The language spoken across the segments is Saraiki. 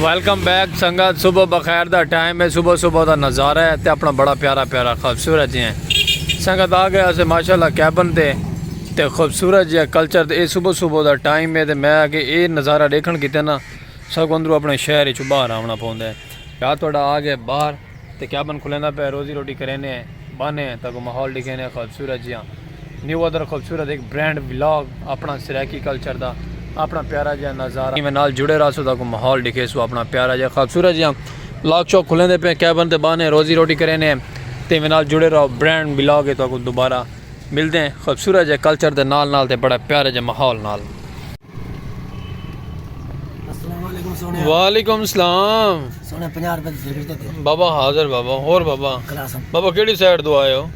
ویلکم بیک سنگت صبح بخیر دا ٹائم ہے صبح صبح دا نظارہ ہے تے اپنا بڑا پیارا پیارا خوبصورت جی ہیں سنگت آ گیا اسے ماشاءاللہ کیبن تے تے خوبصورت جی کلچر تے اے صبح صبح دا ٹائم ہے تے میں کہ اے نظارہ دیکھن کیتے نا سب اندرو اپنے شہر چ باہر آونا پوندا ہے یا تھوڑا آ گیا باہر تے کیا بن کھلیندا پئے روزی روٹی کرینے بانے تاں کو ماحول ڈیکھینے خوبصورت جیاں نیو ادر خوبصورت ہک برینڈ ولاگ اپنا سرائیکی کلچر دا اپنا پیارا جیاں نظارہ میں نال جڑے رہسو تاں کو ماحول ڈیکھیسو اپنا پیارا جیاں خوبصورت جیاں ولاگ شوق کھلیندے پئے کیا بن تے بانے روزی روٹی کرینے تے میں نال جڑے رہو برینڈ ولاگ ہے تاں کو دوبارہ ملدے ہیں خوبصورت جے کلچر دے نال نال تے بڑے پیارے جے ماحول نال وعلیکم السلام بابا حاضر بابا اور بابا بابا کیڑی سائیڈ دو آئے ہو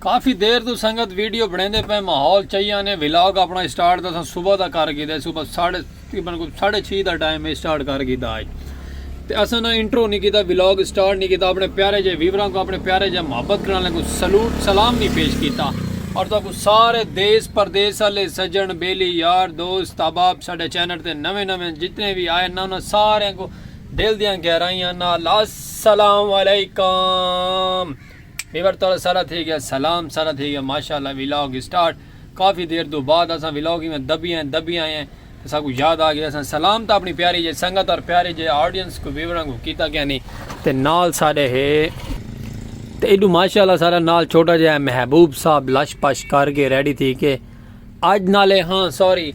کافی دیر تو سنگت ویڈیو بنے دے پہ ماحول چاہیے آنے ویلاگ اپنا اسٹارٹ دا صبح دا کر گی دے صبح ساڑھے تقریبا کو ساڑھے چھی دا ٹائم ہے سٹارٹ کر گیتا ہے تے اساں نہ انٹرو نہیں کیتا ولاگ سٹارٹ نہیں کیتا اپنے پیارے جے ویوراں کو اپنے پیارے جے محبت کرنے کو سلوٹ سلام نہیں پیش کیتا اور تو کو سارے دیس پردیس والے سجن بیلی یار دوست احباب ساڈے چینل تے نویں نویں جتنے بھی آئے نا انہاں سارے کو دل دیاں گہرائیاں نال السلام علیکم ویور تو سارا تھی گیا سلام سارا تھی گیا ماشاءاللہ ولاگ سٹارٹ کافی دیر توں بعد اساں ولاگ ایویں دبی آئیں دبی آئیں تے ساکوں یاد آ گئے اساں سلام تاں اپنی پیاری جئی سنگت اور پیارے جئے آڈینس کو ویوراں کو کیتا کیا نی تے نال ساڈے ہے تے ایڈو ماشاءاللہ سارا نال چھوٹا جئے محبوب صاحب لش پش کر کے ریڈی تھی کے اج نالے ہاں سوری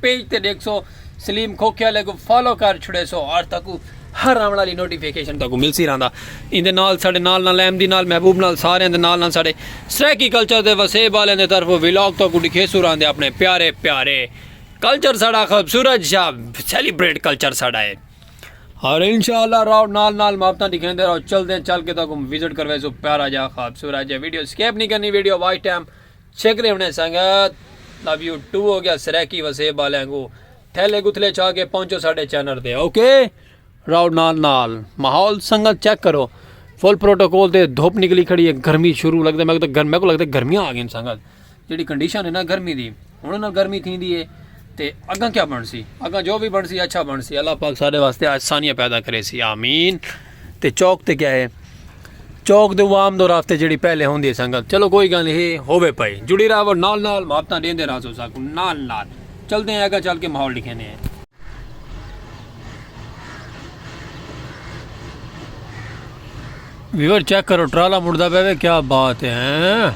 پیج تے ڈیکھسو سلیم کھوکھیا لے کو فالو کر چھڑیسو اور تکو ہر آون والی نوٹیفیکیشن تکو ملسی رہندا ایندے نال ساڈے نال نال احمدی نال محبوب نال سارے دے نال نال ساڈے سرائیکی کلچر دے وسیب والے دے طرف ویلاگ تکو ڈکھیسو رہندے اپنے پیارے پیارے کلچر ساڈا خوبصورت شا سیلیبریٹ کلچر ساڈا ہے اور انشاءاللہ راو نال نال محبتاں دکھیندے راو چل دے چل کے تکو وزٹ کرویسو پیارا جا خوبصورت جا ویڈیو سکیپ نہیں کرنی ویڈیو واچ ٹائم چھیکڑیں انہیں سنگت لو یو ٹو ہو گیا سریکی وسیب والے کو تھیلے گتھلے چھا کے پہنچو ساڈے چینل تے اوکے راؤ نال نال ماحول سنگت چیک کرو فل پروٹوکول تے دھوپ نکلی کھڑی ہے گرمی شروع لگتا میں تو میں کو لگتا گرمیاں آ گئیں سنگت جڑی کنڈیشن ہے نا گرمی دی ہن نہ گرمی تھی دی ہے تے اگا کیا بن سی اگا جو بھی بن سی اچھا بن سی اللہ پاک سارے واسطے آسانیاں پیدا کرے سی آمین تے چوک تے کیا ہے چوک دے عوام دو راستے جڑی پہلے ہوندی ہے سنگت چلو کوئی گل ہے ہوے پئی جڑی راو نال نال محبتاں دیندے راسو ساکو نال نال چل دے ہیں اگا چل کے ماحول لکھے نے ہیں ویور چیک کرو ٹرالا مڑدا پے کیا بات ہے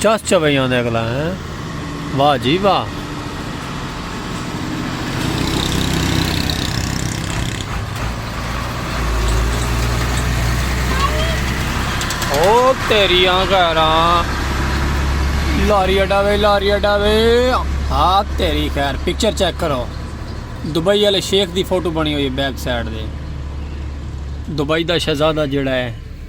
چس چویاں دے اگلا ہے واہ جی واہ او تیریاں گھراں لاری اڈا وے لاری اڈا وے ہاں تیری خیر پکچر چیک کرو دبئی والے شیخ دی فوٹو بنی ہوئی ہے بیک سائڈ دے دبئی دا شہزادہ جڑا ہے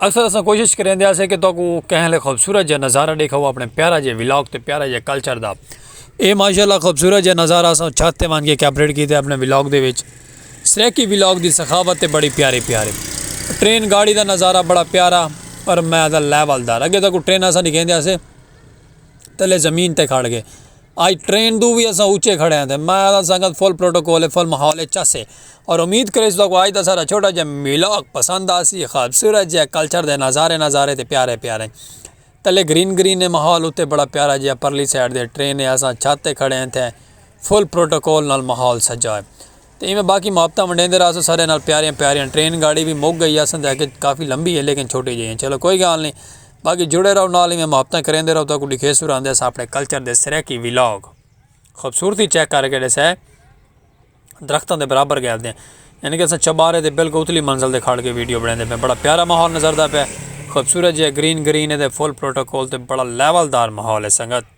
اکثر اساں کوشش کریندے ہاسے کہ تہاکو کہیں لے خوبصورت جا نظارہ ڈیکھاؤ اپنے پیارا جے ولاگ تے پیارا جے کلچر دا اے ماشاءاللہ خوبصورت جا نظارہ اساں چھت تے وان کے کیپریٹ کیتے اپنے ولاگ دے وچ سریکی ولاگ دی سخاوت تے بڑی پیاری پیاری ٹرین گاڑی دا نظارہ بڑا پیارا پر میں دا لیول دار اگے تہاکو ٹرین اساں ڈیکھیندے ہاسے تلے زمین تے کھڑ کے آج ٹرین توں وی اساں اچے کھڑے ہیں تے میں آہداں سنگت فل پروٹوکول ہے فل ماحول ہے چس ہے اور امید کریس تہاکوں آج دا ساڈا چھوٹا جیہا ولاگ پسند آسی خوبصورت جیہا کلچر دے نظارے نظارے تے پیارے پیارے تلے گرین گرین ہے ماحول اتے بڑا پیارا جیہا پرلی سائیڈ تے ٹرین ہے اساں چھت تے کھڑے ہیں تے فل پروٹوکول نال ماحول سجا ہے۔ تے ایویں باقی محبتاں ونڈیندے رہاسوں ساریاں نال پیاریاں پیاریاں ٹرین گاڑی وی مک گئی آساں تے اگے کافی لمبی ہے لیکن چھوٹی جئی ہیں چلو کوئی گال نہیں باقی جڑے رہو نال ایویں محبتاں کریندے رہو تاکو ڈکھے سر آندے اساں اپنے کلچر دے سرائیکی ولاگ خوبصورتی چیک کر کے ڈیسے درختاں دے برابر گئے دیں یعنی کہ اساں چبارے دے بالکل اتلی منزل دے کھڑ کے ویڈیو بڑھیں دے پہ بڑا پیارا ماحول نظر دا پہ خوبصورت جی گرین گرین ہے دے فل پروٹوکول تے بڑا لیول دار ماحول ہے سنگت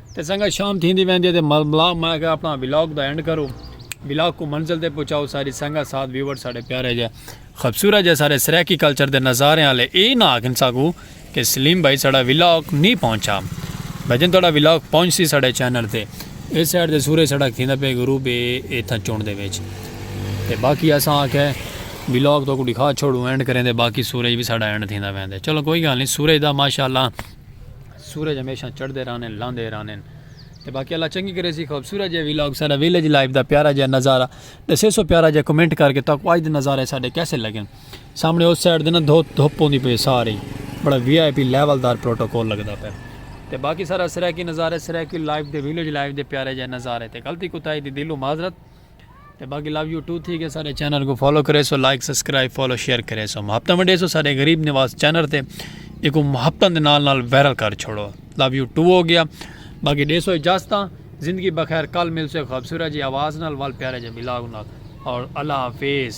تے سنگت شام تھیندی ویندی ہے تے ململا ماں کہ اپنا ولاگ دا اینڈ کرو ولاگ کو منزل تے پہنچاؤ ساری سنگت ساتھ ویور ساڈے پیارے جے خبصورت جے سارے سرائیکی کلچر دے نظارے آلے اے نہ آکھن ساکو کہ سلیم بھائی ساڈا ولاگ نی پہنچا بھجن تہاڈا ولاگ پہنچ سی ساڈے چینل تے اے سائیڈ تے سورج ساڈا کھیندا پے غروب اے ایتھا چونڈ دے وچ تے باقی اساں آکھے ولاگ تو کو دکھا چھوڑو اینڈ کریں دے باقی سورج بھی ساڈا اینڈ تھیندا ویندے چلو کوئی گال نی سورج دا ماشاءاللہ سورج ہمیشہ چڑھدے رہنن لاندے رہنن تے باقی اللہ چنگی کرے سی خوبصورت جے ویلاگ سارا ویلیج لائف دا پیارا جے نظارہ دسے سو پیارا جے کمنٹ کر کے تاکو اج دے نظارے ساڈے کیسے لگن سامنے اس سائیڈ دے نا دھوپ دھوپ پوندی پئی ساری بڑا وی آئی پی لیول دار پروٹوکول لگدا پے تے باقی سارا سرائیکی نظارے سرائیکی لائف دے ویلیج لائف دے پیارے جے نظارے تے غلطی کوتاہی دی دلو معذرت تے باقی لو یو ٹو تھی گئے سارے چینل کو فالو کرے سو لائک سبسکرائب فالو شیئر کرے سو محبت ونڈے سو سارے غریب نواز چینل تے ایک محبت دے نال نال وائرل کر چھوڑو لو یو ٹو ہو گیا باقی دے سو اجازت زندگی بخیر کل مل سو خوبصورت جی آواز نال وال پیارے جی بلاگ نال اور اللہ حافظ